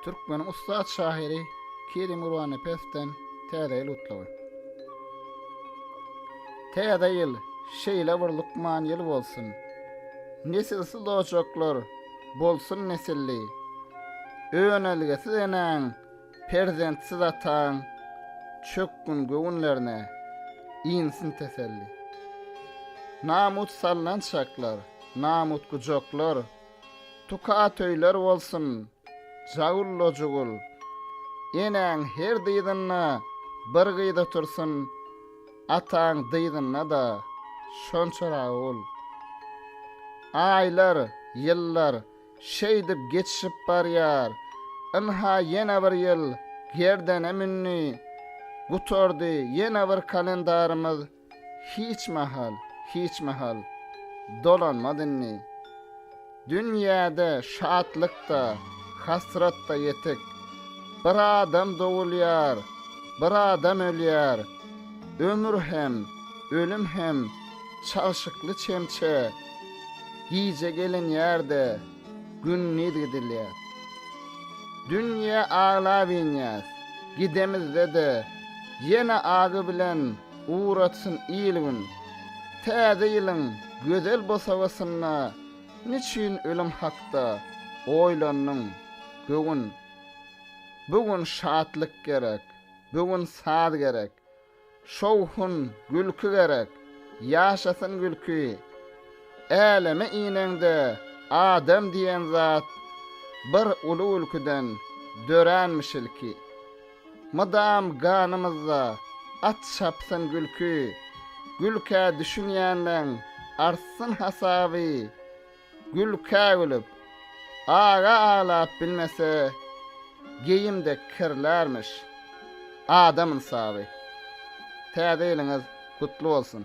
Türkmeniň ussat şahyry Kerim Gurbanepesden Täze ýyl gutlagy. Täze ýyl şeýle bir lukman ýyl bolsun. Nesilsiz ojaklar bolsun nesilli. Önelgesiz enäň, perzentsiz ataň çökgün göwünlerine insin teselli. Namut salnan çaklar, namut gujaklar, Tuka atöýler bolsun, Jagul-lojugul! Enäň her dyzynda bir gyz otursyn, ataň dyzynda-da şonça ragul! Aýlar, ýyllar şeýdip geçişip barýar, ynha ýene bir ýyl gerdene mündi, gutardy ýene bir kalendarymyz. Hiç mahal, hiç mahal dolanmaz indi. Dünýäde şatlyk-da, hasrat-da ýetik. Bir adam dogulýar, bir adam ölýär. Ömür hem, ölüm hem çalşykly çemçe. Gije gelinýär-de, gündiz gidilýär. Dünýä aglap inýäs, gidemizde-de ýene agy bilen Ugratsyn il-gün. Täze ýylyň gözel bosagasynda niçin ölüm hakda oýlandyň, göwün? Bu gün şatlyk gerek, bu gün saz gerek, şowhun, gülki gerek, ýaşasyn gülki! Äleme ineňde adam diýen zat bir uly gülküden döränmiş ilki. Mydam ganymyzda at çapsyn gülki, Gülkä düşünýänleň artsyn hasaby. Gülkä gülüp, aga aglap bilmese, Geýim dek kirlärmiş adam ynsaby. Täze ýylyňyz gutly bolsun!